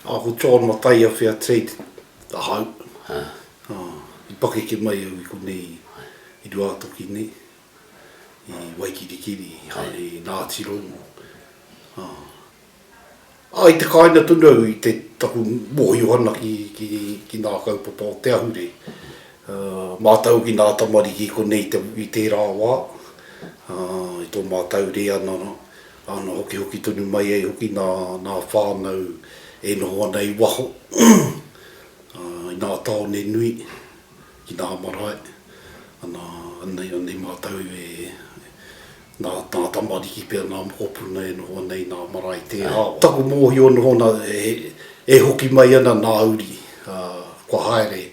A ko John Mataia-Fair Trade ahau, i pakeke mai au i konei i Ruātoki nei, i Waikirikiri, i haere i Ngāti Rongo. A i te kāinga tonu au i te taku mōhiohana ki ngā kaupapa o te ahurei. Mātau hoki ngā tamariki i konei i tērā wā, i tō mātau reanga Āna hokihoki tonu mai ai hoki nā ngā whānau e noho ana i waho, i ngā tāone nui, ki ngā marae, ana, anei mātou e, nā ngā tamariki pea, ngā mokopuna e noho ana i ngā marae i te ao. Taku mōhio noho ana e hoki mai ana ngā uri kua haere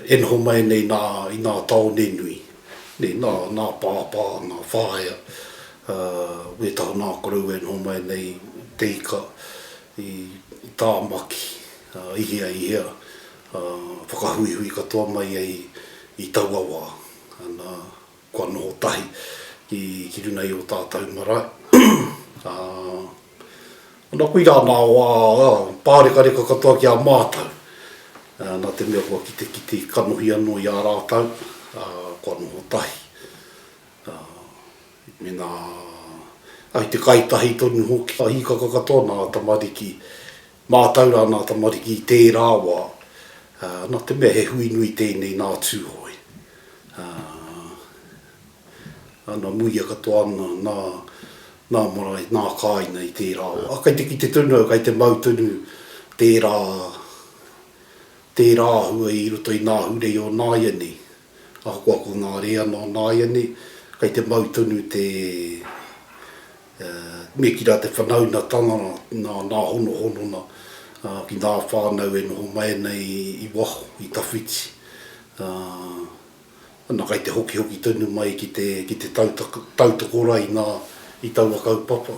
e noho mai ana i ngā tāone nui, nā pāpā, ngā whaea, Ā, wētaha nā korou e noho mai nei te ika i Tāmaki, ā, i hea, i hea, ā, whakahuihui katoa mai ai i taua wā, ana, kua noho tahi ki, ki runga i ō tātau marae, ā, ana, koirā nā wā, ā, pārekareka katoa ki a mātau, ā, nā te mea kua kitekite kanohi anō i a rātau, ā, kua noho tahi. Mēnā ai te kai tahi tonu hoki. Ka hīkaka katoa nā tamariki, mātau rā nā tamariki i tērā wā, nā te mea he hui nui tēnei nā Tūhoe. Nā muia katoa ana, nā, nā marae, nā kāina i tērā wā. Kai te kite tonu au, kai te mau tonu tērā, tērā āhua i roto i nā ahurei o nāianei. Ahakoa ko ngā rēana o nāianei, kei te mau tonu te, ā, me kī rā te whanaunatanga nā, nā honohonona ki ngā whānau e noho mai ana i waho, i tawhiti, ā, ana kei te hokihoki tonu mai ki te, ki te tautoko rā i ngā, i taua kaupapa.